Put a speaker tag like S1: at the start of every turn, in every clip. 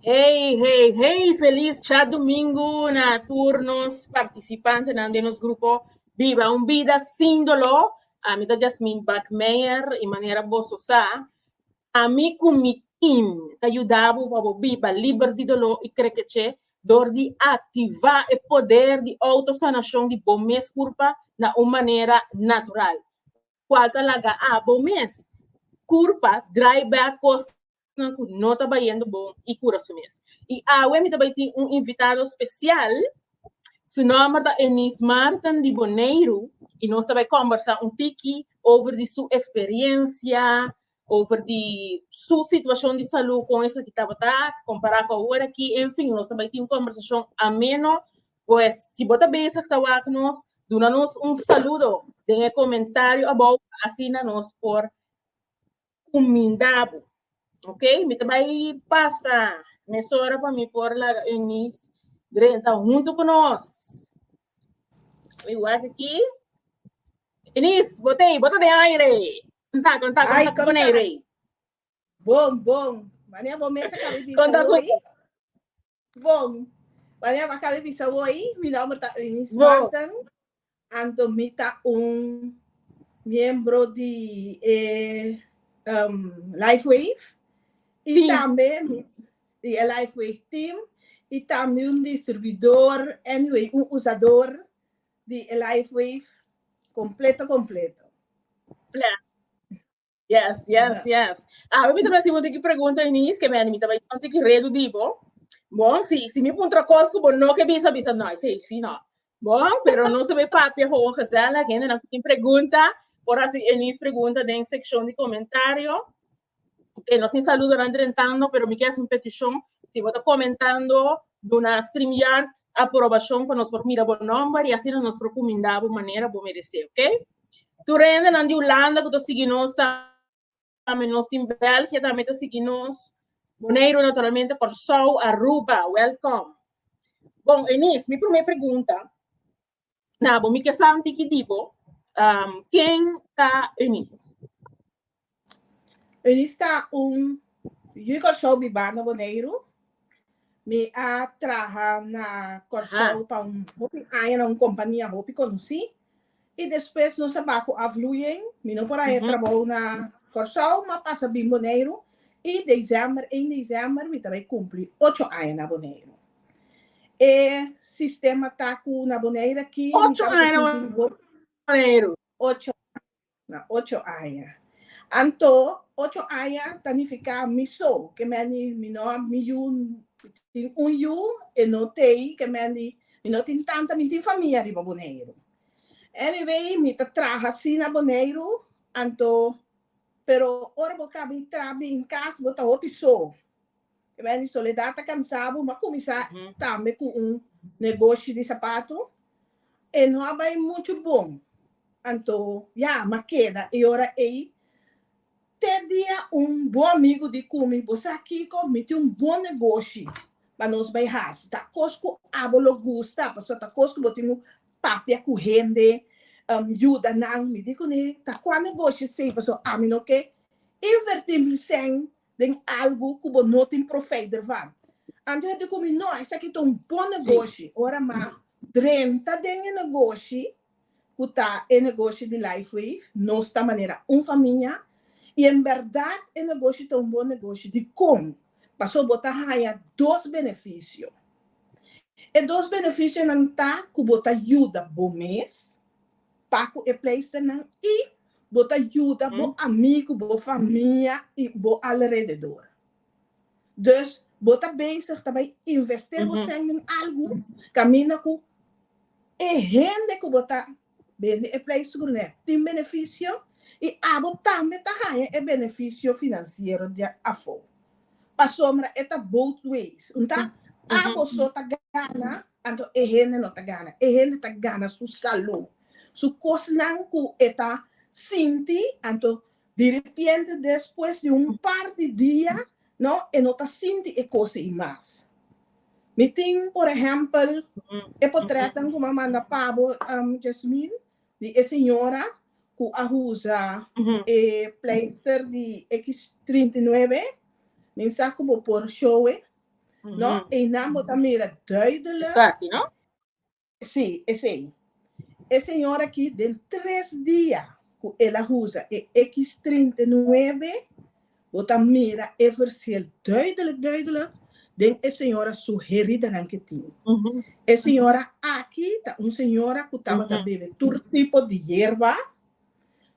S1: Hey, hey, hey, feliz cha domingo na tur nos participantenan den nos grupo Biba un Bida Sin Doló. Ami ta Jasmine Bakmeijer y manera boso sa, ami cu mi team ta yudabu pa bo biba liber di doló y krekeche dor di activa e poder di autosanacion di bo mes curpa na un manera natural. Cual ta laga abo mes. Curpa, draai back cosnan cu no ta bayendo bon y cura su mes. Y awe mi ta bay tin un invitado special. Su nomber ta Eunice Martin di Boneiru y nos ta bay combersa un tiki over di su experiencia over di su situacion di salud con esaki tabata compara cu ahora aki en fin nos a bay tin un conversacion ameno pues si bo ta bezig ta wak nos duna nos un saludo den e comentario abao pa asina nos por cuminda bo ok mi ta bay pasa mesora pa mi por laga Eunice Drenthe hunto cu nos. Mi wak aquí. Denise, botei, bota de aire. Conta, conta, Ay, conta con conta. aire. Bom,
S2: bom. Mania bo mesa cabe bisa Conta con hoy. Bom. Mania ba cabe bisa hoy. Mi nombre ta Eunice Bo. Martin. Anto mi ta un miembro di eh, um, Lifewave. Y Di. tambe mi, di e Lifeway Team y tambe un distribuidor, anyway un usador di e Lifeway completo completo. Bless.
S1: Yes, yes, yes. Awe mi ta mester puntra ki pregunta, Eunice, ke mi ta bay tanto ki redu di bo. Bon, si, si mi puntra cos ku bo no ke bisa, bisa no, I say, si no. Bon, pero nos a papia gewoon gezellig. Hende na tin pregunta, por hasi enis pregunta den seccion di comentario. E nos sin saludo nan drentando, pero mi kes un peticion. Si bo ta comentando, duna StreamYard aprobacion pa nos por mira bo nomber y asina nos por cuminda bo manera bo merece, ok? Tur hende nan di Hulanda cu ta sigui nos ta. Tambe nos tin België tambe ta sigui nos. Boneiru naturalmente, Kòrsou, Aruba, wèlkòm. Bon, Eunice, mi promé pregunta na bo, mi ke santi ki di bo, ken ta Eunice?
S2: Eunice ta un yu Kòrsou bibá na Boneiru. Mi a traha na Kòrsou pa un hopi aña na un kompania hopi konosí. I despues nos a ba ku afluyen. Mi no por a haya trabou na Kòrsou, mi a pasa bin Boneiru i desember, ein desember mi ta bai kumpli ocho aña na Boneiru. E sistema ta ku na Boneiru aki mi tabata
S1: sinti bo. Ocho aña
S2: na ocho aña. Anto ocho aña ta nifiká mi so, ke meni mi no a mi yu, mi tin un yu, e no tei, ke meni. Mi no tin tanta, mi tin famia riba Boneiru. Anyway, mi ta traha si na Boneiru, anto, pero ora bo caba e traha bin cas bo ta hopi so. Mi bai di Soledad ta cansa bo, mi a cuminsa tambe cu un negoshi di sapato. E no a bai mucho bon, anto, ya, mi a keda e ora ey. Te dia un bon amigu di Kumi, Bo sa kiko? Mi tin un bon negoshi pa nos bai hasi. Ta kos ku abo lo gusta, pasobra ta kos ku bo tin un papia ku hende, yuda nan. Mi di kuné, Ta kua negoshi esei? Pasobra ami no ke invertí mi sèn den algu ku bo no tin profeter van. Anto e di ku mi, No, esaki ta un bon negoshi. Ora mi a drenta den e negoshi, cu ta e negoshi di Life Wave, nos ta manera un famia y en berdad e negoshi ta un bon negoshi di con? Paso bo ta haya dos beneficio. E dos beneficionan ta cu bo ta yuda bo mes pa cu e pleisternan y bo ta yuda bo amigo, bo famia y bo alrededor. Dus bo ta bezig ta bai invest'é bo cen den algu caminda cu e hende cu bo ta bende e pleistugur n'e tin beneficio y abo tambe ta haña e beneficio financiero di afo. Pasobra e ta both ways. Nta abo so ta gana anto e hende no ta gana. E hende ta gana su salud, su cosnan cu e ta sinti anto Di ripiente despues di un par di dia, no, e no ta sinti e cos ei mas. Mi tin, por ehempel, e potretnan cu mi a manda pa bo, Jasmine, di e señora cu a usa e pleister di X trinta i nuebe, mi sa cu bo por show e, no, einan bo ta mira duidelijk,
S1: Sí,
S2: esei. E señor aki den tres dia cu el a usa e X trinta i nuebe, bo ta mira e versel duidelijk, duidelijk den e señora su heridanan cu e tin. E señora aki ta un señora cu tabata bebe tur tipo di yerba,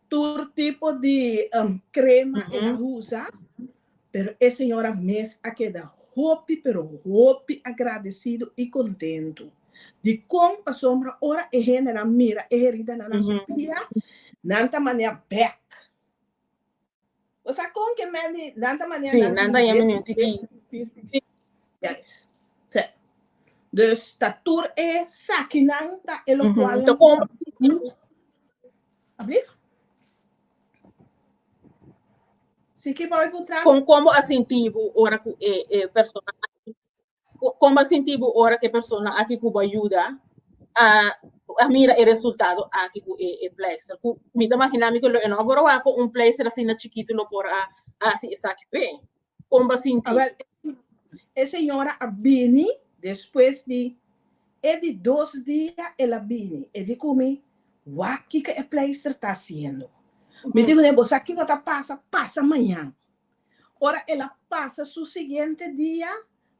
S2: tur tipo di crema el a usa, Pero e señora mes a keda hopi pero hopi agradecido y contento di con pasobra ora e hendenan mira e heridanan na su pia nan ta manea bek. Bo sa con ke Mandy nan ta manea nan ta manea bek porque
S1: e sufristi.
S2: Ya es. Sey. Dus ta tur e sakinan ta e locual nan ta comba.
S1: Ablief.
S2: Con como a sinti
S1: bo ora cu e e persona aki como a sinti bo ora cu e persona aki cu bo a yuda a a mira e resultado aki cu e e pleister cu mi ta imagina mi cu lo e no a wor a wak cu un pleister asina chikito lo por a hasi esaki pe. Kon bo a sinti? Awèl, e
S2: señora a bini despues di e di dos dia el a bini, e di ku mi, Wak kiko e pleister ta hasiendo. Mi di kuné, Bo sa kiko ta pasa, pasa mañan. Ora el a pasa su siguiente dia,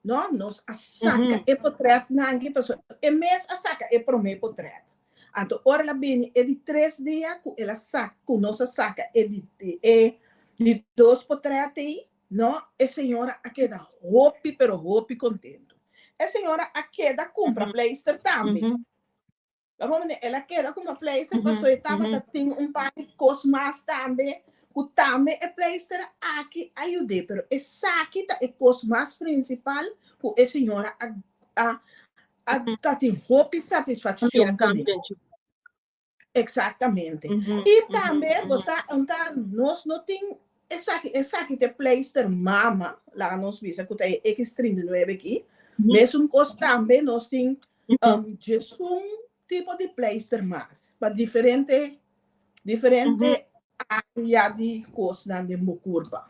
S2: No, nos a saca e potret na anki paso e mes a saca e prome potret. Anto ora la bini e di tres dia cu el a saca, cu nos a saca e di e di dos potret ey, no, e señora a keda hopi pero hopi contento. E señora a keda cumpra pleister tambe. La por manera el a keda ku no pleister pasobra e tabata tin un par di kos mas tambe ku tambe e pleister aki a yud'é. Pero esaki ta e kos mas prinsipal ku e señora a a a a tin hopi satisfakshon ku mi. Eksaktamente. I tambe bo sa anta nos no tin esaki, esaki ta e pleister mama, laga nos bisa ku ta e eks trinta i nuebe aki. Mesun kos tambe nos tin. djesun tipo di pleister mas pa diferente diferente área di kosnan den bo kurpa.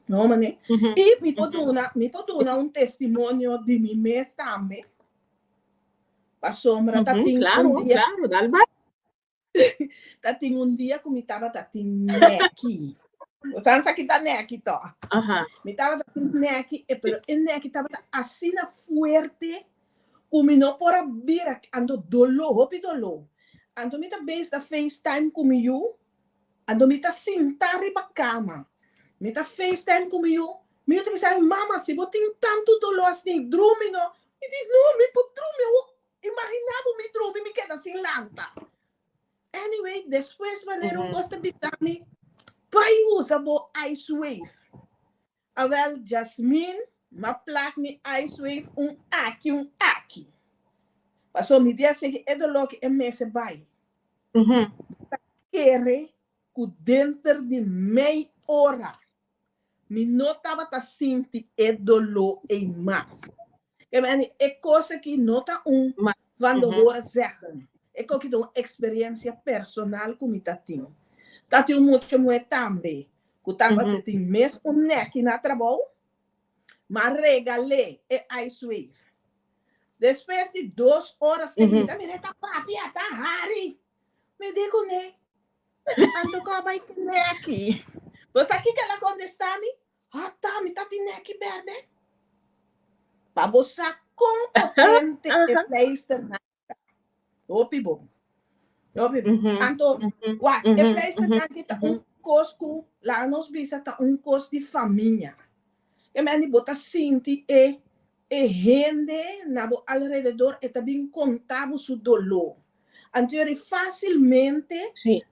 S2: No mane? I mi por duna mi por duna un testimonio di mi mes tambe. Pasobra ta tin un dia. Claro, claro, dal
S1: bai.
S2: Ta tin un dia ku mi tabata tin nèki. Bo sa sa ki ta nèki tò? Aha. Mi tabata tin nèki, e pero e nèki tabata asina fuerte ku mi no por a bira, anto doló, hopi doló. Anto mi ta bes ta facetime ku mi yu, anto mi ta sinta riba kama, mi ta facetime ku mi yu, mi yu ta bisa, Mama, si bo tin tantu doló asina, drumi no. Mi di, No, mi por drumi, a wok Imaginá bo mi drumi mi keda sin lanta. Anyway, despues wanneer un kos ta bisa mi, Bai usa bo ice wave. A wel, Jasmine, m'a plak mi ice wave un aki, un aki. Paso mi di a sigui e doló ki e mester bai. Mi ta kere ku denter di mei ora Mi no tabata sinti e doló ei mas. E meni e kos aki no ta un van lo hora zèggen. E koki ta un eksperensia personal ku mi ta tin. Ta tin un mucha muhé tambe ku tabata tin mes un nèki na trabou, m'a regal'é e ice wave. Despues di dos oras e mira mi ta papia, ta hari. Mi di cu ne, Anto cu a bay tine aki? Bo sa kico el a contesta mi? Ata, mi ta tine aki berde. Pa bo sa con potente e pleister nan ta. Hopi bon. Hopi bon. Anto, wa, e pleister nan ki ta un cos cu, laga nos bisa, ta un cos di famia. Kemeni bo ta sinti e E hende na bo alrededor e ta bin konta bo su doló. Antori fásilmente,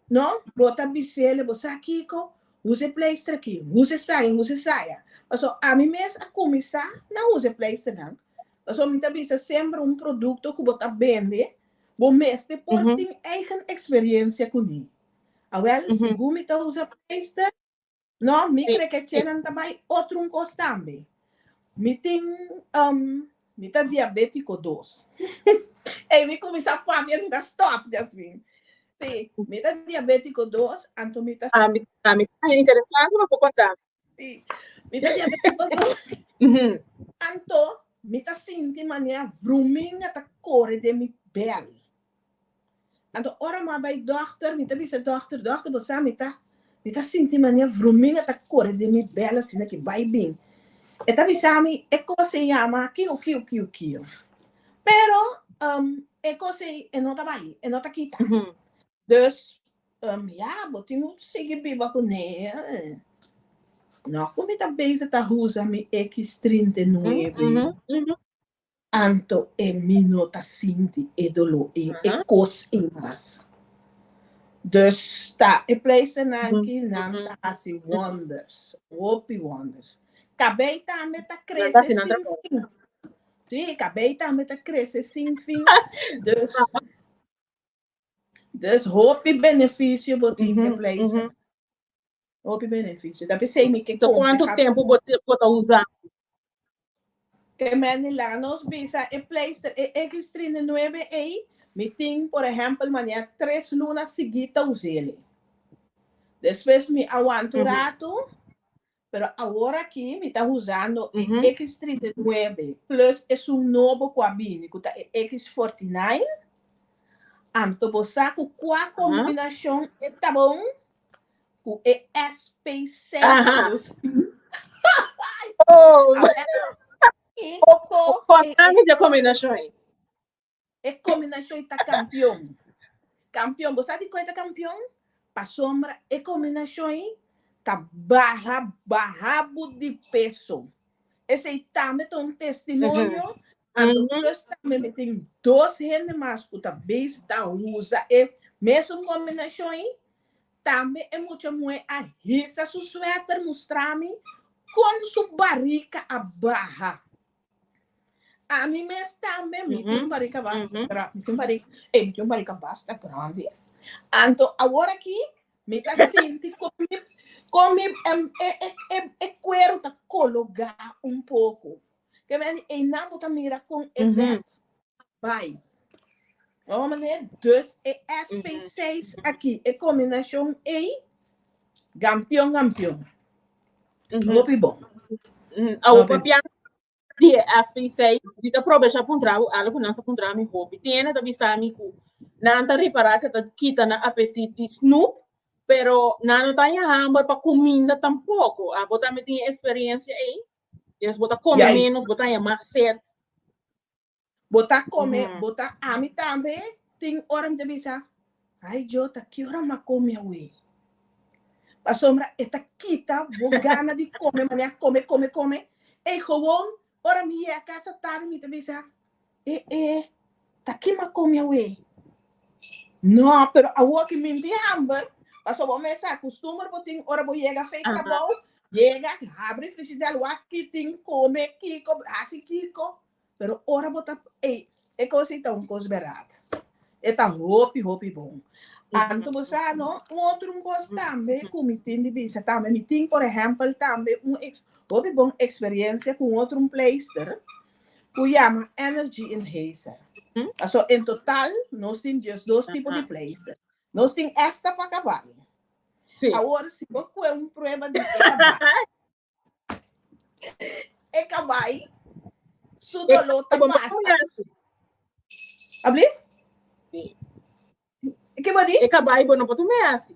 S2: no, bo ta bis'el, bo sa kiko? Hus e pleistra aki? Hus e saya? Hus e saya? Paso ami mes a kuminsá na usa e pleisternan. Paso mi ta bisa semper un produkto ku bo ta bende, bo mester por tin eigen eksperensia kuné. Awel, segun mi ta usa pleister, No, mi kre ke chenan ta bai otro un kos tambe. Mi tin, um, mi ta diabetiko dos. Ey, mi kuminsá papia, mi ta stòp, Jasmine. Si, mi ta diabetiko dos, anto mi ta... Ah, mi, ah, mi
S1: ta
S2: interesante,
S1: no
S2: por contá. Si, mi ta diabetiko dos. Anto, mi ta sinti mane a vrumin a ta kore den mi bèl. Anto ora mi a bai dòkter, mi ta bisa dòkter, dòkter bo sa mi ta, mi ta sinti manera vrumina ta kore den mi bèl asina ki bai bin. E ta bisa mi e kos ei yama kiu kiu kiu kiu. Pero e kos ei e no ta bai, e no ta kita. Dus ya, bo tin ku sigui biba kuné. Nò ku mi ta bese ta usa mi X39. Anto e mi no ta sinti e doló ei, e kos ei mas. Dus ta e pleisternan ki nan ta hasi wonders, hopi wonders. Kabei tambe ta krese sin fin. Sí, kabei tambe ta krese sin fin. Dus. Dus hopi benefisio bo tin den pleisa. Hopi benefisio. Ta p'esei mi ke konfia. So kuantu tempu
S1: bo ta usa?
S2: Ke Manny laga nos bisa e pleister, e X trinta i nuebe ei, mi tin por ehèmpel manera tres luna sigi ta us'e. Despues mi awanta un ratu, Pero awor aki mi ta huzando e eks trinta i nuebe plus esun nobo ku a bini ku ta e eks forti nain. Anto bo sa ku kua kombinashon e ta bon ku e sp seis
S1: plus i. Oko e. E
S2: combinacion ta campeon. Campeon, bo sa di koe ta campeon? Pasobra e combinacion ei ta baha baha bo di peso. Esei tambe ta un testimonio, a doctors tambe mi tin dos hende mas cu ta bezi ta usa e mesun combinacion ei. Tambe e mucha muhé a hisa su sueter mustrami con su barica a baha. Ami mes tambe, mi tin un barriga basta grandi, mi tin un barriga, ey, mi tin un barriga basta grandi. Anto, awor aki, mi ta sinti con mi, con mi e cuero ta cologa un poco. Te beni, eynan bo ta mira con efect. bai. Oa maneer, dus e SP seis aki, e combinacion ey, gampion gampion.
S1: Hopi bon. Awo pa pian di e SP seis, di ta probe sha puntra u algo nan sa puntra mi hopi. Tiene ta bisa mi ku nan ta repara ke ta kita na apetit di snoep, pero nan no ta ya hamber pa kuminda tampoco. Abo tambe tin e experiencia ey? Yes bo ta come menos, bo ta ya mas set.
S2: Bo ta come, Ujú. bo ta ami tambe tin ora mi ta bisa, ay Jota ki ora m'a come awe? Pasobra e ta kita bo gana di come manera a come, come, come. Ey gewoon ora mi yega casa tarde mi ta bisa, e e ta ki m'a come awe? No, pero awo ki mi tin hamber, pasobra bo mester a custumber bo tin ora bo yega fey Aha. trabou, Yega aki, habri frigidel, wak ki tin kome, kiko, hasi kiko. Pero ora bo ta, ey, e kos ei ta un kos berat. E ta hopi, hopi bon. Anto bo sa no, un otro un kos tambe ku mi tin di bisa tambe. Mi tin, por ehèmpel, tambe un eks, hopi bon eksperiencia ku un otro un pleister ku yama Energy Enhancer. Paso en total nos tin diesdos tipo di pleister. Nos tin esta pa kabal. Sí. Awor, si bo kue un prueba di e kabai, e kabai, su dolor ta pasa. Abli? Sí. Ke bo di? E kabai bo no por tu me hasi.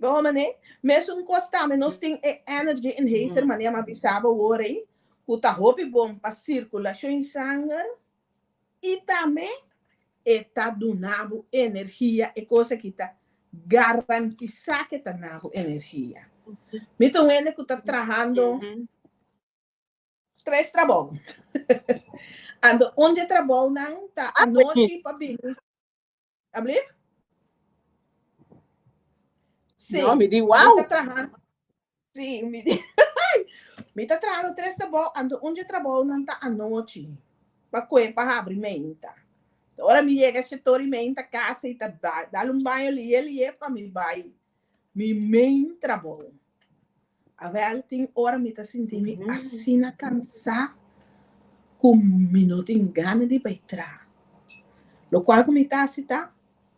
S2: Bobo mané, mesun kos tambe nos tin e energy enhancer mané ama bisa bo wor ei ku ta hopi bon pa sirkulashon sanger i tambe e ta duna bo energia, e kos aki ta garantisá ke ta na bo energia. Mi ta un hende ku ta trahando tres trabou. Anto un di e trabounan ta anochi pa bini Ablief? Sí. No, mi di wow. Mi
S1: traha.
S2: Sí, mi di. mi ta traha no tres tabo, ando un je trabo non ta anochi. Pa kuen pa habri menta. Ora mi llega se tori menta casa y ta dal un baño lie lie pa mi bai. Mi main trabou. Awel tin ora mi ta sinti mi asina cansá cu mi no tin gana di bay traha. Lo cual cu mi ta haci ta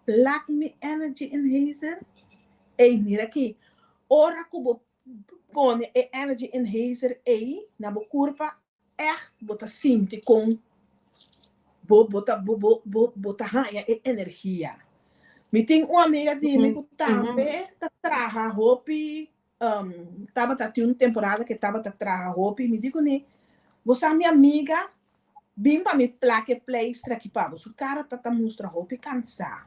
S2: plug mi energy enhancer. Ey, mira aki, ora cu bo pone e energy enhancer ey na bo curpa, Echt bo ta sinti con bo bo ta bo bo bo bo ta haña e energia. Mi tin un amiga di mi cu tambe ta traha hopi, um, tabata tin un temporada cu e tabata traha hopi, mi di cune, Bo sa mi amiga bin pa mi plak e pleistra aki pa bo, su cara ta ta mustra hopi cansa.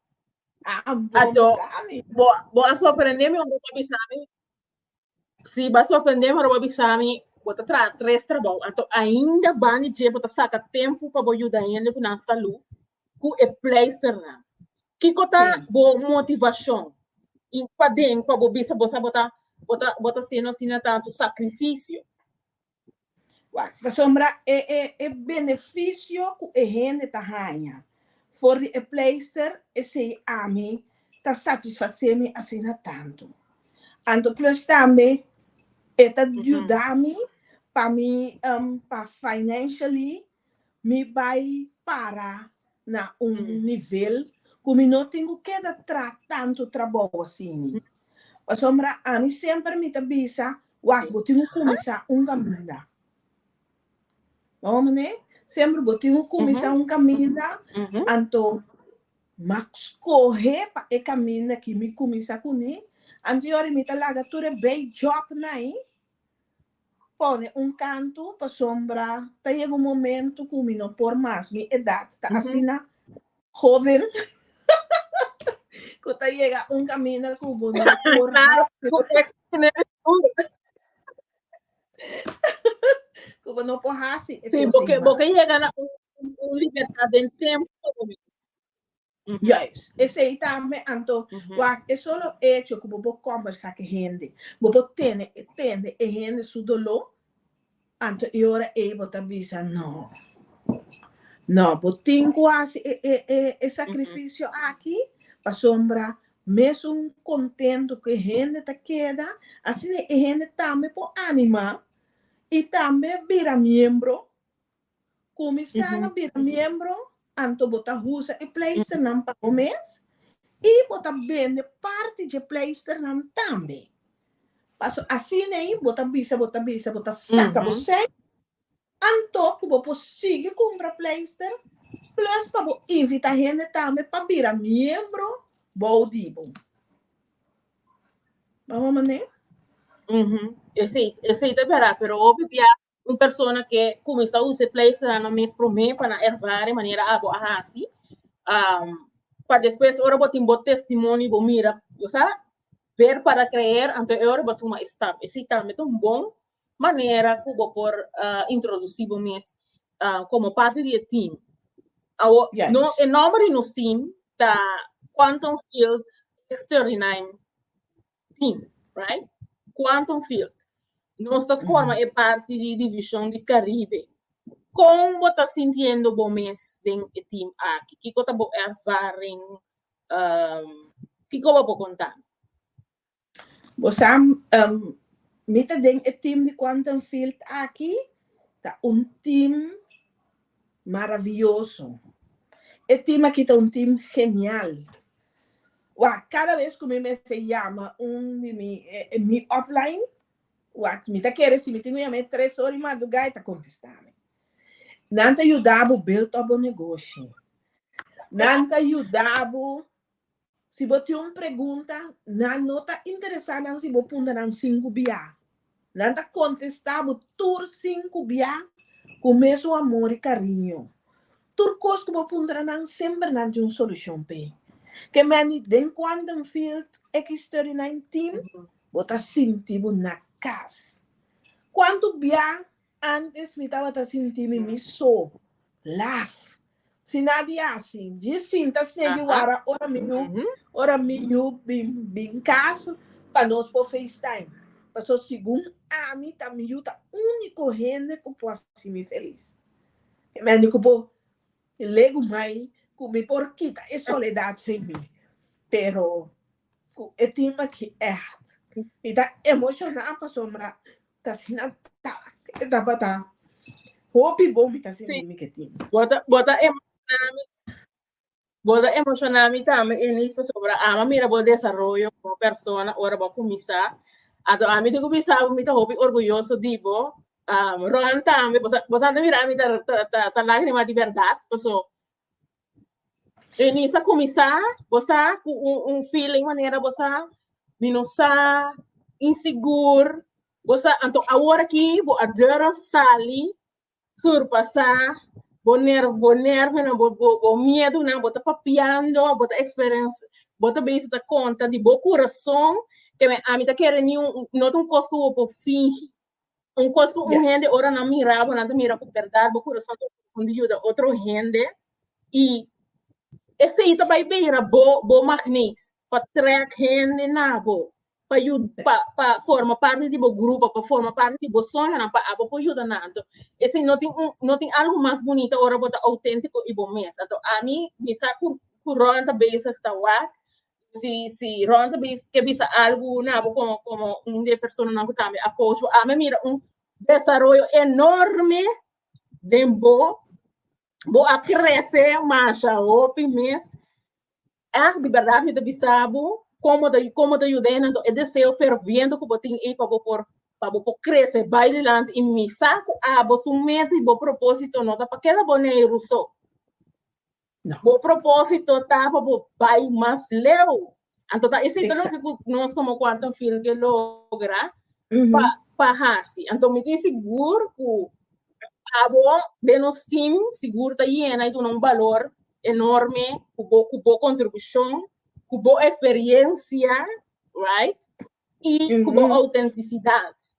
S2: Ato, bo, bo a sorprende
S1: mi ora bo bisa mi. Si bo a sorprende mi ora bo bisa mi, bo ta traha tres trabou. Ato, ainda bani dje bo ta saka tempu pa bo yuda hende ku nan salu ku e pleisternan. Kiko ta bo motivashon i paden pa bo bisa bo sa bo ta bo ta bo ta sino asina tantu sakrifisio?
S2: Pasobra e beneficio cu e hende ta haña for di e pleister esey ami ta satisface mi asina tanto. Anto plus tambe e ta yuda mi pa mi pa financially mi bai para na un nivel ku mi no tin ku keda tra tantu trabou asini. Pasobra ami semper mi ta bisa, Wak, bo tin ku kuminsá un kaminda. Ora manera semper bo tin ku kuminsá un kaminda, anto mak skohe pa e kaminda aki mi kuminsá kuné. Anto yori mi ta laga tur e bèk jòb nai, pone un kantu pasobra ta yega un momento cu mi no por mas, mi edad ta asina hoven cu ta yega un caminda cu bo no por cu bo no por haci e cosnan mas. Si bo ke
S1: yega na un libertad den tempo. Juist,
S2: esei tambe, anto wak e solo echo ku bo por kòmbersá ku e hende, bo por tene e tende e hende su doló, anto e ora ei bo ta bisa, no, no, bo tin ku hasi e e e e sakrifisio aki pasobra mesun kontentu ku e hende ta keda, asina e hende tambe por animá i tambe bira miembro Kuminsá na bira miembro anto bo ta usa e pleisternan pa bo mes i bo ta bende parti dje pleisternan tambe. Paso asina ei bo ta bisa bo ta bisa bo ta saka bo sènt anto ku bo por sigui kumpra pleister plus pa bo invitá hende tambe pa bira miembro bou di bo. Bo a hoor manera?
S1: Si, esei ta bèrdad, pero hopi bia un persona ke kuminsá usa e pleisternan mes promé pa nan ervare manera abo a hasi, am, pa despues ora bo tin bo testimonio bo mira, bo sa, ver para creer, anto e ora bo tuma e stap. Esei tambe ta un bon manera ku bo por introdusí bo mes komo parti di e team. Awo, Yes. no, e nòmber di nos team ta Quantum Field Extraordinaim. team, right? Quantum field. Nos ta forma e parti di division di Caribe. Con bo ta sintiendo bo mes den e team aki? Kiko ta bo ervaring? Um, kiko bo por conta?
S2: Bo sa, um, mi ta den e team di quantum field aki. Ta un team Maraviyoso! E tim aki ta un tim genial. Wak, kada bes ku mi mester yama un di mi mi upline, wak, mi ta kere si mi tin ku yama e tres ora di mardugá e ta kontestá mi. Nan ta yuda bo build up bo negoshi. Nan ta yuda bo Si bo tin un pregunta, nan no ta interesá nan si bo punta nan sinku bia. Nan ta kontestá bo tur sinku bia ku mesun amor i kariño. Tur kos ku bo puntra nan semper nan tin un solushon p'e. Ke mende den Quantum Field X39 Team bo ta sinti bo na kas. Kuantu bia Antes mi tabata sinti mi mi so, laf. Si na di hasi, djis sinta snebi wara ora mi yu ora mi yu bin bin kas pa nos por facetime. Paso segun ami ta mi yu ta unico hende cu por hasi mi feliz. E mende cu por legu mai cu mi por kita e soledad fen mi. Pero cu e tin maki echt. Mi ta emociona pasobra ta asina tak e tabata. Hopi bon mi ta sinti mi ke tin. Bo ta bo ta emociona
S1: mi bo ta emociona mi tambe Eunice pasobra ama mira bo desaroyo como persona ora bo a cuminsa. Anto ami tin cu bisa bo mi ta hopi orguyoso di bo. Um, Ron tambe, bo sa bo sa ta mira mi ta ta ta ta lagrima di berdad paso E mi sa kuminsá, bo sa, ku un un feeling manera bo sa mi no sa, insigur, bo sa. Anto awor aki bo a durf sali, surpasá bo ner bo nervonan, bo bo bo miedunan, bo ta papiando, bo ta eksperens bo ta bisa ta konta di bo kurason ke ami ta kere niu no ta un kos ku bo por fingi. Un cos cu un hende ora nan mira bo, nan ta mira cu berdad bo curason ta profundo yuda otro hende. Y esey ta bay bira bo, bo magnees pa trek hende na bo, pa yuda, pa, pa forma parti di bo grupo, pa forma parti di bo soñonan, pa abo por yuda nan. Anto, esey no tin un, no tin algo mas bunita ora bo ta autentico y bo mes. Anto, ami, mi sa cu, cu Roland ta bezig ta wak, si, si Ron te bis, ke bisa algo na bo como, como un de persona nan ku tambe a coach bo. A me mira un desarrollo enorme den bo. Bo a crece masha hopi mes. Echt di verdad mi te bisa bo como te como te ayuda nan to e deseo ferviente ku bo tin ei pa bo por pa bo por crece bai dilanti i mi sa ku abo su meta i bo propósito no ta pa keda bo nei ruso. No. Bo propósito ta pa bo bai mas leu. Anto ta esei ta loke ku nos komo Quantum Field ke logra pa pa hasi. Anto mi tin sigur ku abo den nos team sigur ta yena i duna un balor enorme ku bo ku bo kontribushon, ku bo eksperiensia, right, i ku bo outentisidat.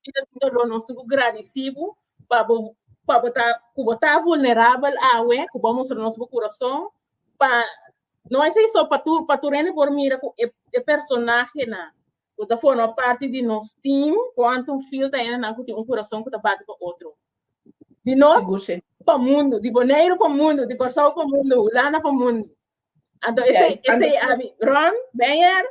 S1: Vida sin dolor nos su ku gradisí bo pa bo pa bo ta ku bo ta vulnerabel awe ku bo a mustra nos bo kurason pa no esei so pa tur pa tur hende por mira ku e e personahenan ku ta forma parti di nos team kuantu fiel ta hendenan ku tin un kurason ku ta bati pa otro di nos Sigur si. pa mundu di Boneiru pa mundu di Kòrsou pa mundu Hulanda pa mundu anto esei Yes, anto esei su- ami Ron Beyer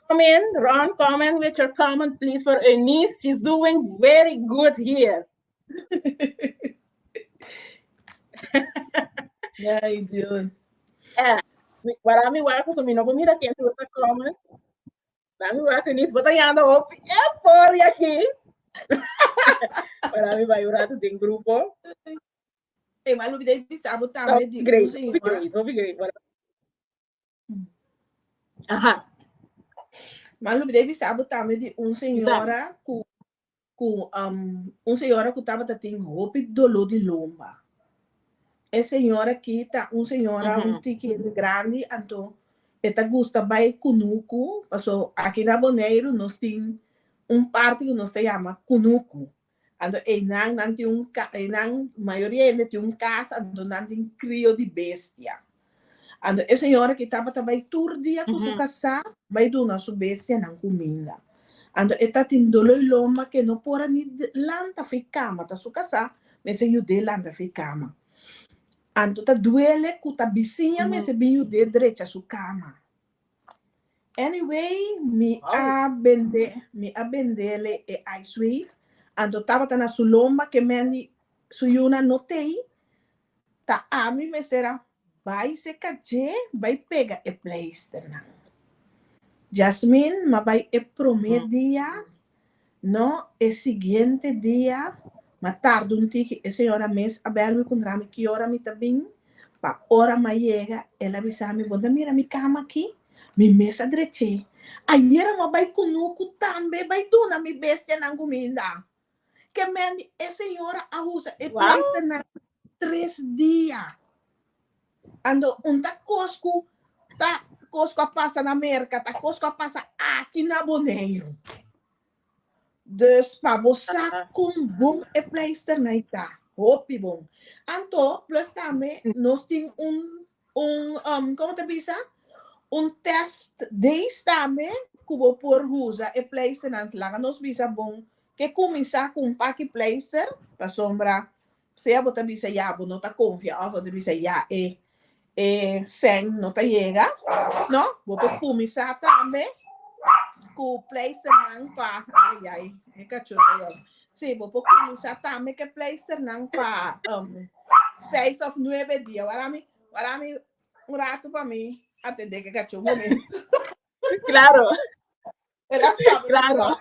S1: Come in, Ron, come in with your comment, please, for Eunice. She's doing very good here.
S2: Ay, Dios. Eh, mi-
S1: para mi waku, so mi no mira quien tú te comes. Para mi waku, ni bota ya ando op, eh, por y aquí. para mi va a llorar de un grupo. Igual lo que
S2: debe pisar, botar,
S1: Top me digo, grade, señor. top grade, top grade. Para- Aha. Ma
S2: lo debe sabo tambe di un señora cu, cu um, un señora cu tabata tin hopi dolor di lomba. E señora ki ta un señora uh -huh. un tiki grandi, anto e ta gusta bai kunuku, paso aki na Boneiru nos tin un parti cu nos ta llama kunuku. Anto einan nan tin un ka, einan mayoria hende tin un kasa anto nan tin krio di bestia. Anto e señora ki tabata bai tur dia ku su kasá bai duna su bestianan kuminda. Anto e ta tin dolo i lomba ku e no por a ni lanta fi kama, ta su kasá mester yud'é lanta fi kama. Anto ta duele ku ta bisiña mester bin yud'é drecha su kama. Anyway, mi a bende, mi a bendele e ice wave, anto tabata na su lomba ke Mandy su yuna no tei, ta ami mester a bai seka dje bai pega e pleisternan. Jasmine, m'a bai e promé dia No, e siguiente dia, ma tarde un tiki, e señora mes a bel mi kundra mi ki ora mi ta bin, pa ora m'a yega, el a bisa mi, Bo ta mira mi kama aki? Mi mes a drech'é. Ayer amo a bai ku nu ku tambe bai duna mi bestianan kuminda. Kemendi e señora a usa e pleisternan tres dia. Ando un ta kos ku ta kos ku a pasa na Merka ta kos ku a pasa aki na Boneiru. Dus pa bo sa kon bon e pleisternai ta, hopi bon. Anto plus tambe nos tin un un um komo ta bisa? Un test days tambe ku bo por usa e pleisternan. Laga nos bisa bon ke kuminsá ku un paki pleister pasobra Sea bo ta bisa ya bo no ta konfia òf bo ta bisa ya e e sèn no ta yega, no? Bo por kuminsá tambe ku pleisternan pa, ay ay e kachó ta yòrda. Sí, bo por kuminsá tambe ku e pleisternan pa seis òf nuebe dia. Wara mi, wara mi un ratu pa mi atendé ku e kachó un momento. Klaro. Klaro.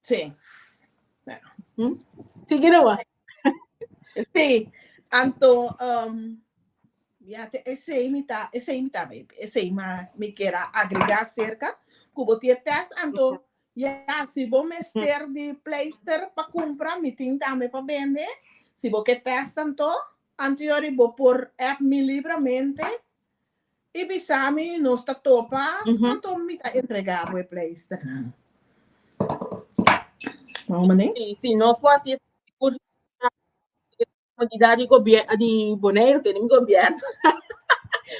S2: Sí.
S1: Sigue nomás.
S2: Sí. Anto, um, ya te ese imita, ese imita, ese ima, mi quiera agregar cerca, cubo tiene test, anto, ya, si vos mester de pleister para comprar, mi tin también para vender, si vos que test, anto, anterior, vos por app mi libremente, I bisa mi nos ta topa anto mi ta entrega bo e pleisternan. Bon mane? Si, si nos por hasi esaki
S1: di curso di comunidad di gobierno di Boneiru, tene mi gobierno.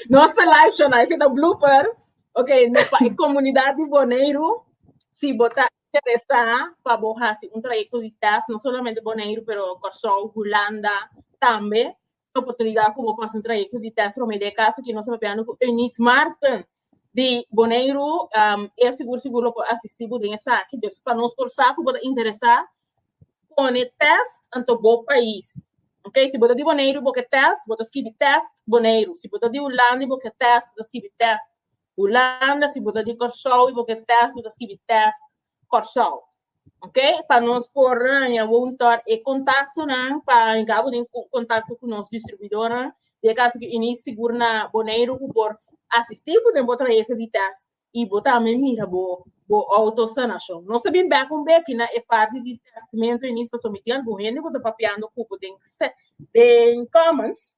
S1: Nos ta live show na ese ta blooper. Ok, no pa e comunidad di Boneiru si bo ta interesa pa bo hasi un trayecto di test, no solamente Boneiru pero Kòrsou, Hulanda tambe. e oportunidad cu bo pasa un trayecto di test prome den e caso que nos a papiando cu Eunice Martin di Boneiru, um, e sigur sigur lo por asistir bo den esaki. Dus pa nos por sa cu bo ta interesa pone test anto bo pais. Ok, si bo ta di Boneiru bo ke test, bo ta skibi test Boneiru. Si bo ta di Hulanda y bo ke test, bo ta skibi test Hulanda. Si bo ta di Kòrsou y bo ke test, bo ta skibi test Kòrsou. Ok, pa nos por haña un tòr e kontaktonan pa enga bo tin kontakto ku nos distribuidornan, di e kaso ku Eunice sigur na Boneiru ku por asistí bo den bo trayekto di tèst i bo tambe mira bo bo outo sanashon. Nos ta bin bèk un beki na e parti di tèstimentu Eunice pa sometí algun hende ku ta papiando ku bo den den Commons,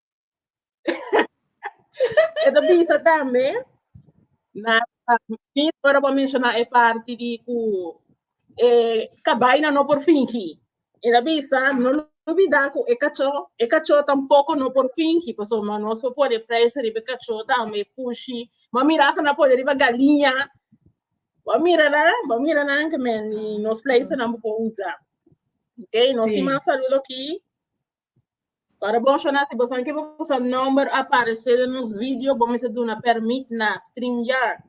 S1: Esta bisa tambe na mi ora pa menciona e parti di cu e cabaina no por fingi. Esta bisa no lo olbida cu e cacho, e cacho tampoco no por fingi, pasobra nos por pone prijs riba e cacho tambe, pushi. Bo a mira asa nan pone riba galiña, bo a mira nan, bo a mira nan ke men nos plijsnan bo por usa. Ok, nos tin mas saludo aki. Para bon shona, si bo san ke bo sa number aparece den nos video, bo mester duna permit na StreamYard.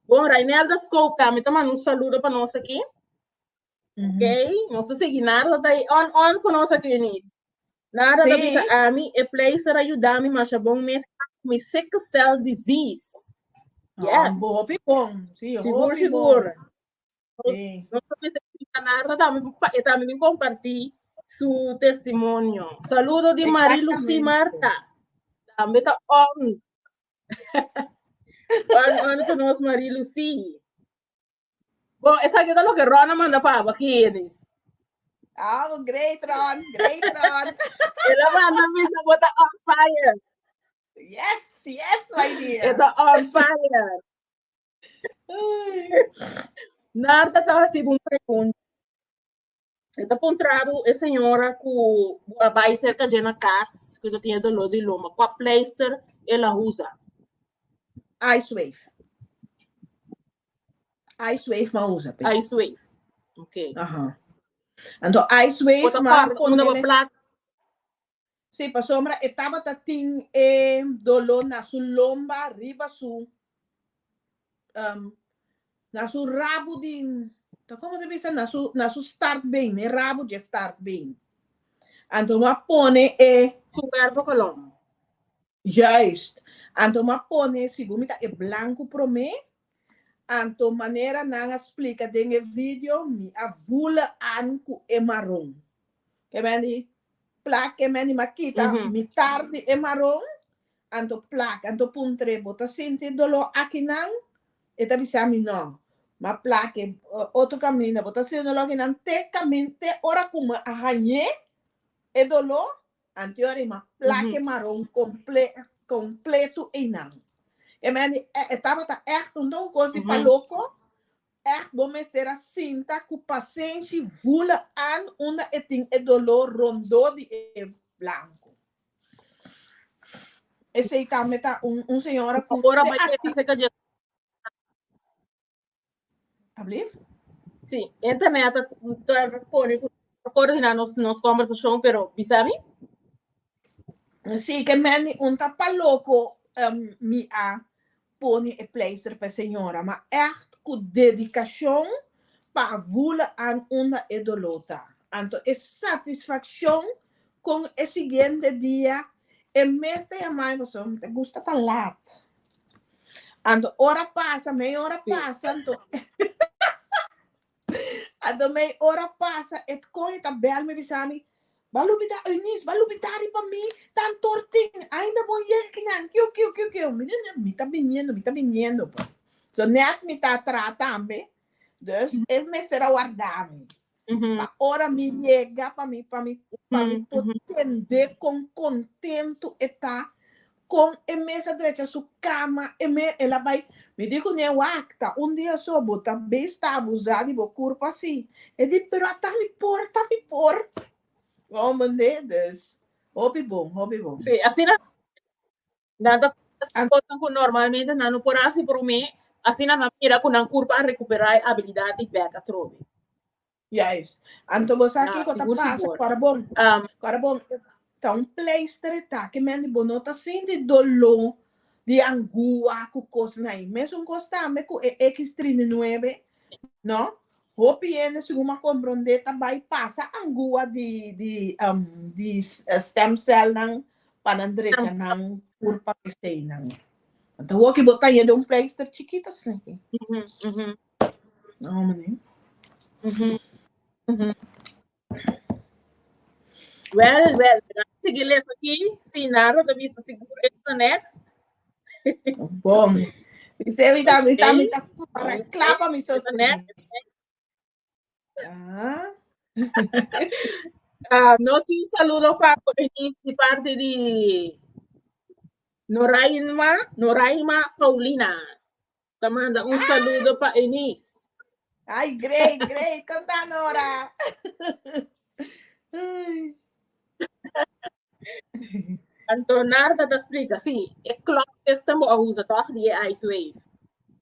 S1: Bon, Rainelda Scope tambe ta manda un saludo pa nos aki. Ok, nos ta segui nada ta tai on on pa nos aki, Eunice. Nada ta Sí. bisa ami, e pleister a yudami masha bon mes mi sickle cell disease. Yes. Yes. Bo hopi bon.
S2: Sí, Sigur, hopi
S1: sigur. bon. Nos ta mester escucha Narda tambe pa e tambe tin comparti su testimonio. Saludo di Marie Lucie Marta. Tambe ta on. on on con nos Marie Lucie. Bon, esa que lo que Rona manda pa aba Genis. Oh, great Ron, great Ron. Ela manda mi sa bota on
S2: fire. Yes, yes, my dear. Ela on
S1: fire. Narda ta hasi un pregunta. E ta puntra bu e señora ku bu a bai serka dje na kas ku ta tin doló di lomba, kua pleister e la usa? Ice wave.
S2: Ice wave m'a usa pe. Ice wave.
S1: Ok. Aha.
S2: Anto ice wave Ota m'a kòrda unda pone ba ne-
S1: plak.
S2: Si, pasobra e tabata tin e doló na su lomba riba su, um, na su rabu di, ta como ta bisa? Na su, na su startbeen, na e rabu dje startbeen. Anto bo a pone e. Su cuerpo
S1: colon. Juist.
S2: Anto bo a pone, si bo mira e blancu prome, anto manera nan a splica den e video, mi a vula an cu e maron. Ke men di? Plak e mènima kita mitar di e maron, anto plak, anto puntre, Bo ta sinti doló aki nan? E ta bisa mi no. Ma plak e otro kaminda, Bo ta sinti doló aki nan te kamin, te ora ku mi a hañ'é e doló? Anto yori, ma plak e maron komple, kompletu einan. E mèn di, Tabata ègt un kos di pa loko. Èg bo mester a sinta ku pasenshi vula an unda e tin e doló rondó di e blanku. Esei tambe ta un un señora ku Ora bo yega serka
S1: Jesús. Ablief?
S2: Sí, e ta mea ta
S1: ta pone ku ta kòrdiná nos nos kòmbersashon, pero bisa mi? Sí
S2: ke men mi un ta pa loko mi a pone e pleister p'e señora, ma ègt ku dedikashon pa a vule an unda e doló ta. Anto e satisfakshon kon e siguiente dia e mes ta yama mi pasobra mi ta gusta ta lat. Anto ora pasa, mei ora pasa anto. A domey ora pasa e cohe ta bel mi bisa mi ba lubida Eunice ba lubida ri pa mi tan tortin ainda bon yega kinan kiu kiu kiu kiu mi ne mi ta biniendo mi ta biniendo pues so net mi ta atra tambe dus e mester a warda mi pa ora mi yega pa mi pa mi pa mi por tende con contento e ta Con e mes a drecha su cama e me el a bay. Mi di cu ñe wacta un dia so bo ta bes ta abusa di bo curp asi. E di pero ata mi por ta mi por. Wow mende dus hopi bon hopi bon. Sí asina
S1: nan ta haci cosnan cu normalmente nan no por haci prome asina nan mira cu nan curp a recupera e habilidad di bek atrobe. Juis.
S2: Anto bo sa kiko ta pasa ku Arabon. Ku Arabon ta un pleister e ta ki mende bo no ta sinti doló di angua ku kosnan ai. Mesun kos tambe ku e eks trinta i nuebe, no? Hopi hende segun bo a komprondé ta bai pasa angua di di di stem cellnan pa nan drecha nan tur pa peseinan. Anto hopi bo ta hende un pleister chikito asina aki.
S1: Well, well, mira, sigui les aki. Si Naro ta bisa sigur e ta next.
S2: Bom. Mi se mi ta, mi ta, mi ta para clapa mi so. Next.
S1: Ah, no si saludo pa di parte di Noraima, Noraima Paulina. Te manda un saludo pa Eunice. Ay,
S2: great, great. Kanta Nora.
S1: Antonarda ta explica, sí, e clock system bo a usa toch di e ice wave.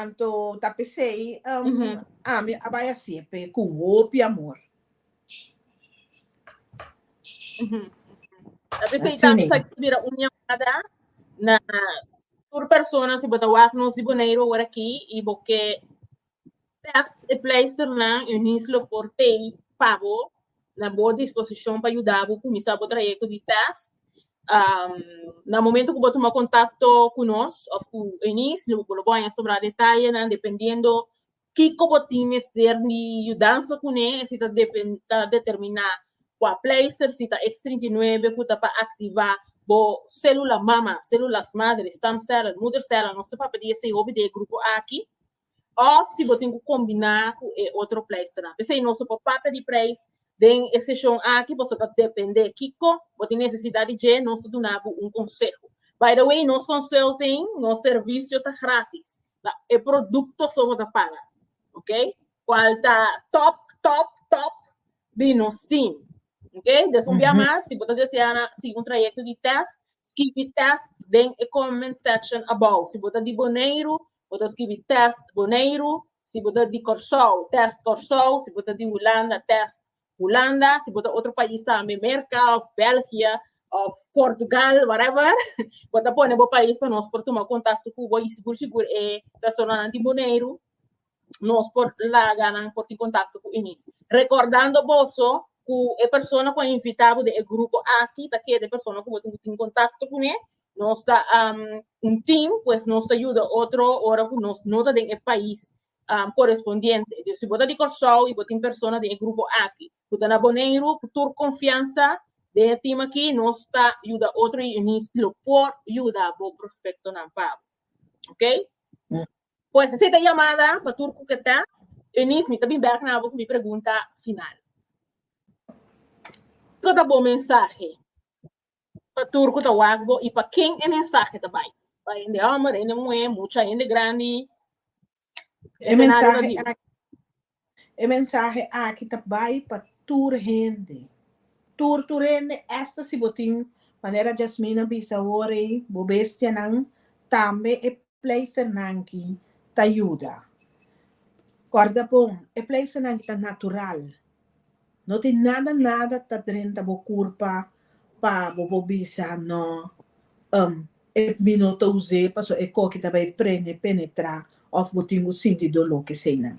S2: Anto ta pesey ami a bai a sepe cu hopi amor.
S1: Ta pesey tambe sa cu bira un yamada na tur persona si bo ta wak nos di Boneiru awor aki y bo ke Tekst, E pleisternan Eunice lo por tei pa bo na bo disposishon pa yuda bo kuminsá bo trayekto di tèst. Na momentu ku bo tuma kontakto ku nos òf ku Eunice bo lo por haña sobrá detallenan dependiendo kiko bo tin mester di yudansa kuné, si ta ta determiná kua pleister, si ta X trinta i nuebe ku ta pa aktivá bo sélula mama, sélulas madre, stamcellen, moedercellen, nos ta papia di esei hopi di e grupo aki. Of si bo tin cu combina cu e otro prijsnan. P'esey nos por papia di prijs den e seshon aki boso ta depende kico bo tin necesidad di dje nos ta duna bo un conseho. By the way nos consulting, nos servicio ta gratis. Na e producto so bo ta paga. Ok? Cual ta top, top, top di nos team. Ok? Des un bia mas si bo ta desea na sigui un trayecto di test, skibi test den e comment section abou. Si bo ta di Boneiru Bo ta skibi test Boneiru si bo ta di Kòrsou, test Kòrsou si bo ta di Hulanda, test Hulanda si bo ta otro pais tambe, Merka òf Bèlgia òf Portugal, whatever, bo ta pone bo pais pa nos por tuma kontakto ku bo i sigur sigur e personanan di Boneiru nos por laga nan por tin kontakto ku Eunice. Rekòrdando boso ku e persona ku a invitá bo den e grupo aki ta keda e persona ku bo tin ku tin kontakto kuné Nos ta um, un team, pues nos ta yuda otro ora ku nos no ta den e pais um, korespondiente. Dus si bo ta di Kòrsou i bo tin persona den e grupo aki, ku ta na Boneiru, ku tur konfiansa den e team aki, nos ta yuda otro unionist lo por yuda bo prospektonan pa bo. Ok? Pues esei ta yamada pa tur ku ke test. Eunice, mi ta bin bèk na bo ku mi pregunta final. Kiko ta bo mensahe pa tur cu ta wak bo y pa ken e mensahe ta bay. Pa hende homber, hende muher, mucha hende grandi. E
S2: mensahe aki, e mensahe aki ta bay pa tur hende, tur tur hende esta si bo tin, manera Jasmine a bisa awor ey, bo bestianan, tambe e. Pleisenan ki ta yuda. Kòrda bon, e pleisenan ki ta natural. No tin nada nada ta drenta bo kurpa pa bo por bisa, No, em, e mi no ta us'é pasobra e koki ta bai prende, penetrá, òf bo tin bo sinti doló, keseinan.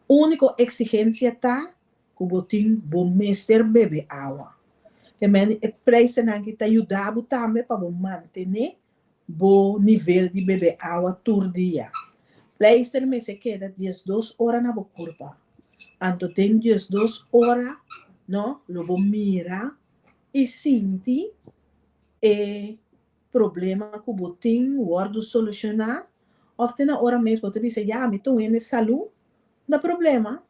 S2: Úniko eksigensia ta ku bo tin bo mester bebe awa. P'e men e pleisenan ki ta yuda bo tambe pa bo mantené Bo nivel di bebe awa tur dia. Pleister mester keda diesdos ora na bo kurpa. Anto den diesdos ora no lo bo mira i sinti e problema ku bo tin wòrdu solushoná òf te na ora mes bo ta bisa, ya mi ta wende salú? No ta problema.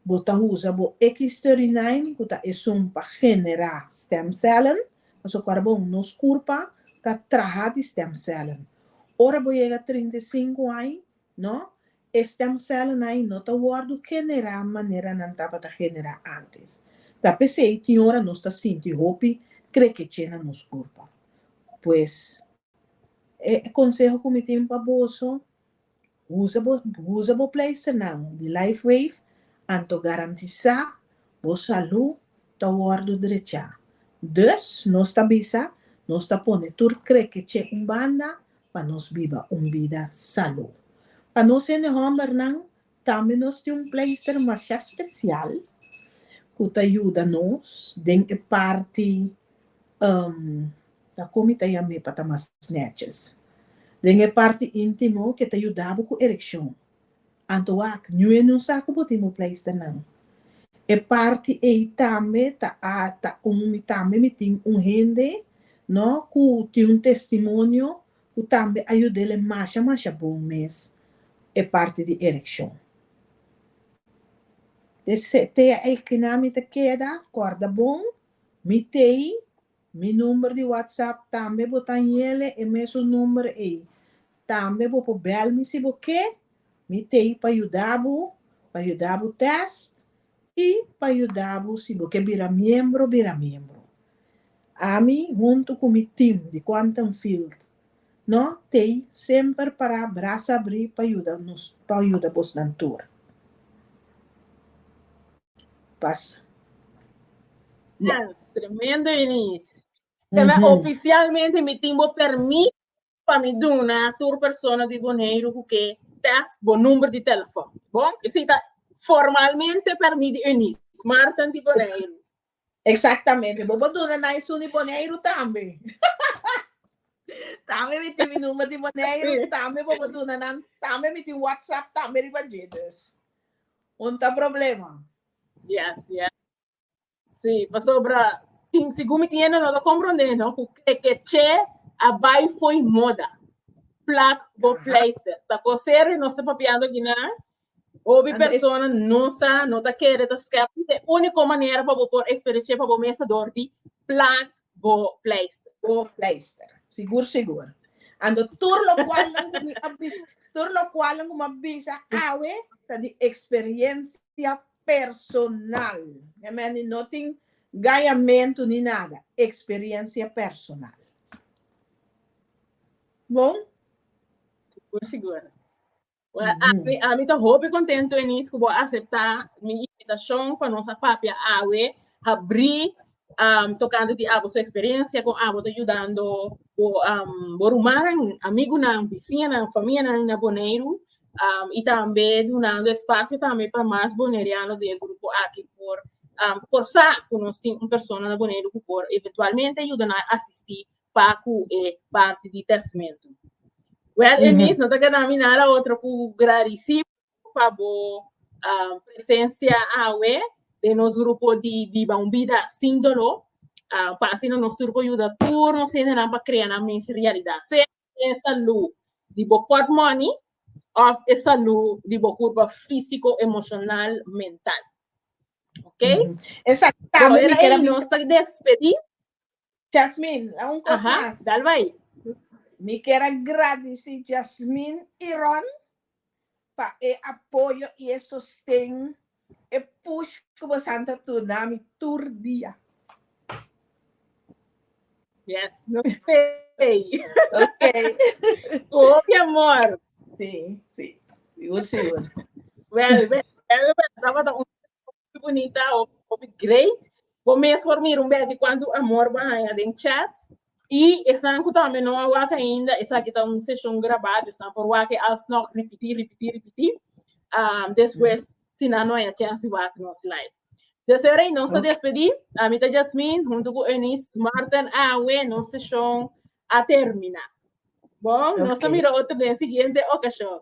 S2: Bo ta usa bo X-thirty-nine ku ta esun pa generá stemcellen, ta su karbon. Nos kurpa ta traha di stemcellen. Ora bo yega trinta i sinku aña, no, e stemcellen ai no ta wòrdu generá manera nan tabata generá antes. Ta p'esei tin ora nos ta sinti hopi krekeche na nos kurpa. Pues, e konseho ku mi tin pa boso, Usa bo pleisternan di LifeWave anto garantisá bo salú ta wòrdu drechá. Dus, nos ta bisa, nos ta pone tur krekech'é un banda pa nos biba un bida salú. Pa nos hende hòmbernan tambe nos tin un pleister masha spesial ku ta yuda nos den e parti. Ta kon mi ta yam'é pa ta mas nètjes. Den e parti íntimo ke ta yuda bo ku erekshon. Anto wak, ñu e nun sa ku bo tin bo pleista nan. E parti ei tambe ta a ta un mi tambe mi tin un hende no ku tin un testimonio ku tambe a yuda el'e masha masha bon mes e parti di erekshon. Te te a ei kina mi ta keda kòrda bon mi tei Mi number di WhatsApp tambe bo ta nyele e mesun number ei. Tambe bo por bel mi si bo ke, mi t'ei pa yuda bo, pa yuda bo test i pa yuda bo si bo ke bira miembro bira miembro. Ami huntu ku mi team di Quantum Field No tey semper pará brasa abrí pa yuda nos pa yuda bos nan tur. Pas. Ya.
S1: Tremendo Eunice. Te me oficialmente mi tin bo permit pa mi duna tur persona di Boneiru cu ke test bo number di telefon. Bon? Esey ta formalmente permit di Eunice Martin di Boneiru.
S2: Exactamente, bo por duna na esun di Boneiru tambe. tambe mi tin mi number di Boneiru, tambe bo por duna nan, tambe mi tin WhatsApp, tambe riba dje. Dus, un ta problema. Yes,
S1: yes. Sí, pasobra, tin, segun mi tin e nota comprende, no, cu e que che a bai foi moda. Plak bo pleister. Ta cosere nos ta papiando aquí na Hopi persona no sa, no ta kere ta skeptic. E unico manera pa bo por experiencia pa bo mes ta door di plak bo pleister. Bo pleister.
S2: Sigur sigur. Anto tur locualnan cu mi a bisa, tur locualnan cu mi a bisa awe ta di experiencia personal. He mende no tin gayamento ni nada. Experiencia personal. Bon? Sigur
S1: sigur. Well, mm -hmm. a mi ta hopi contento Enis ku bo acepta mi invitacion pa nos a papia awe habri um, tocante di abo su experiencia con abo te ayudando bo um, bo rumanan, amigunan, vecinan, familianan na Boneiru um, y tambe donando espacio tambe pa mas boneriano de grupo aquí por um, por sa ku nos tin un persona na Boneiru ku por eventualmente ayuda na asisti pa ku e parti di testamentu. Well, e mis no ta keda mi nada otro ku gradisí pa bo um, presensia awe den nos grupo di Biba un Bida Sin Doló. Uh, pa asina nos tur por yuda tur nos hendenan pa krea nan mes realidat. Sea e salú di bo pòtmòni of e salú di bo kurpa físiko, emoshonal, mental. Ok? Esa Bo tabla
S2: mi mira keda ei mi nos ta
S1: despedí. Jasmin,
S2: la un kos Aha, mas. dal bai.
S1: Mi kier
S2: a gradisi Jasmin i Ron pa e apoyo i e sosten, e push ku bosan ta duna mi tur dia.
S1: Yes, no stay. Ok.
S2: Ku hopi
S1: amor. Si, si.
S2: Sigur, sigur.
S1: Well, well, tabata un Muy bonita hopi great. Bo mes por mira un beki cuanto amor bo a haña den chat. Y esnan cu tambe no a wak ainda, esaki ta un seshon grabado, esnan por wak e alsnog ripití, ripití, ripití, am, despues si nan no a haña chèns di wak nos live. Deseo Rey, nos ta Ok. despedí. Ami ta Jasmine, hunto cu Eunice Martin Awe, nos seshon a termina. Bon, nos ta Ok. mira otro den siguiente ocashon.